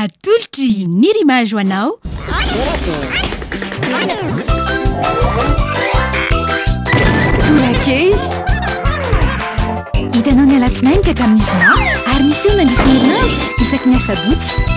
Atolotry ny Rimage ho anao. Torakely. Hitanao ny alatsinainy ka hatramin'ny zoma ary miseho mandritra ny herinandro isaky ny asabotsy.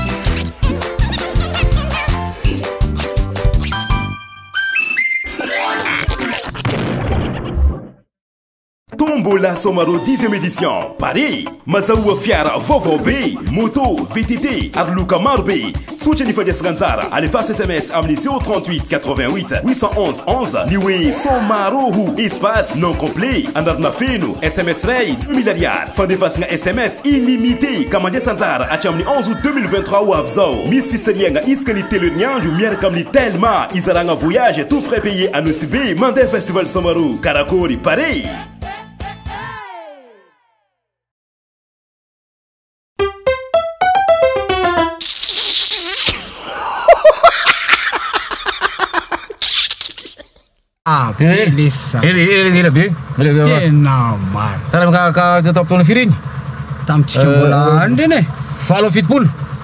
Tombola Somaro dixième édition Paris Mazahoa fiara vaovao be, moto, VTT ary loka maro be. Tsotra ny fandraisana anjara, alefaso sms amin'ny 038 88 811 11 ny hoe Somaro ho espace, nom complet, anarana feno, sms iray, deux mille ariary. Fandefasana sms illimité ka mandraisa anjara hatramin'ny 11 août 2023 ho avy izao. Misy fisarihana isaky ny telo herinandro miaraka amin'ny Telma, izaragna voyage tout frais payés anosiana. JB mandeha festival Samaru karakory pare. Beleza. Ele, ele, ele, be. Ele, ele, ele. Tena maro. Tara ka ka tao fotoana firy iny? Tamintsika mbola andreny e. Valo fitopolo.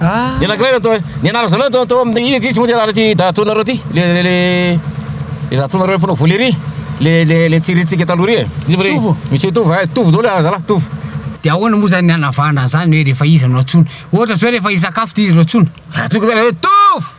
Ah. Dia lakilay natao, ny anarana zalahy natao tao amin'ny izy izy moa dia anarana ity datonareo ity, le le le le datonareo mpanao volley ry, le le le tsirintsika taloha ry e. Izy ry. Tovo. Monsieur Tovo, eh, Tovo daholo anarana zalahy, Tovo. Dia ahoana moa izany ny hanavahana an'izany hoe rehefa izy no antsoina? Ohatra izao hoe rehefa hisakafo dia izy no antsoina. Raha toa ka zany hoe Tovo!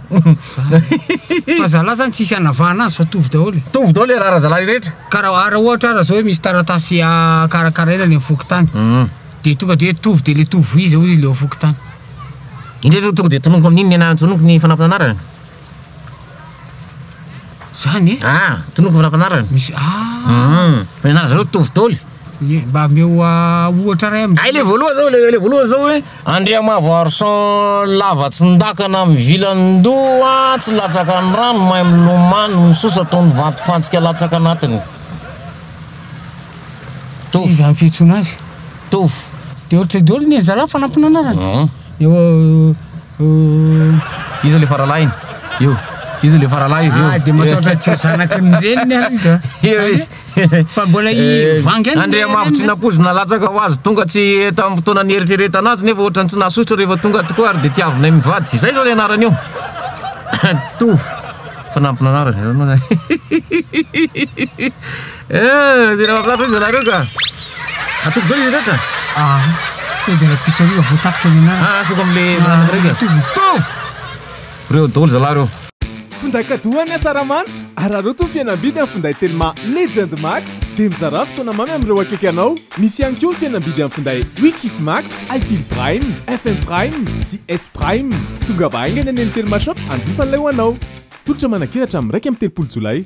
Fa zala zany tsisy anavahana azy fa tovy daholo e. Tovy daholo le rara zalahy rehetra. Ka ra ra ohatra ara zao hoe misy taratasy karakaraina any am fokontany de tonga de hoe tovy de le tovy iza hoy izy le ao fokontany. Indreo zao tonga de tononiko amin'iny nenahany tononiko ny fanampin'anarana. Zany e? Ah, tonoko fa nampianarany. Misy ah. Hum, fa ianareo zareo mitovy taoly. Ye, mba ameo ohatra ray amin'izay. Ay le voalohany zao, le, le voalohany zao hoe Andriamavo Arson lava tsindakana mivilan-doha tsy latsaka ny rano mahay milomano ny sosa toy ny vato fantsika latsaka anatiny. Tovo. Iza ny fihetsoana azy? Tovo. Dia ohatry ny daholo ny zalahy fa nampianarany. Hum. Eo iza le faralahiny? Eo iza le faralahy eo? Ah, de mataotra tsy ho zanaky ny reniny ary izy a. Eo izy. Fa mbola i eh, vangy any. Andriamavo tsy nampoizina latsaka ho azy tonga tsy tamin'ny fotoana nieritreretana azy nefa ohatrany tsy nasosotra rehefa tonga tokoa ary de tiavinay mivady. Izay zao le anarany io. Tovo. Fanampinanarana. Eh! Tena mahafinaritra ry zalahy reo ka! Antsoiko daholo izy rehetra? Ah! Sao dia raha pizza reo vao tapitra ny anarana? Ah! Antsoiko amin'le mirandrana reo ka! Mitovy mitovy! Reo daholo zalahy reo! Finday cadeau an'ny Asaramanitra! Araraoty ny fihenam-bidy amin'ny finday Telma Legend Max dia mizarà fotoana mamy amin'ireo akaiky anao. Misy ihany koa ny fihenam-bidy amin'ny finday We Kif Max, I Feel Prime, FM Prime sy S Prime. Tongava haingana eny amin'ny Telma Shop hanjifa an'ilay ho anao. Tolotra manakiratra amin'ny iraika amby telopolo jolay.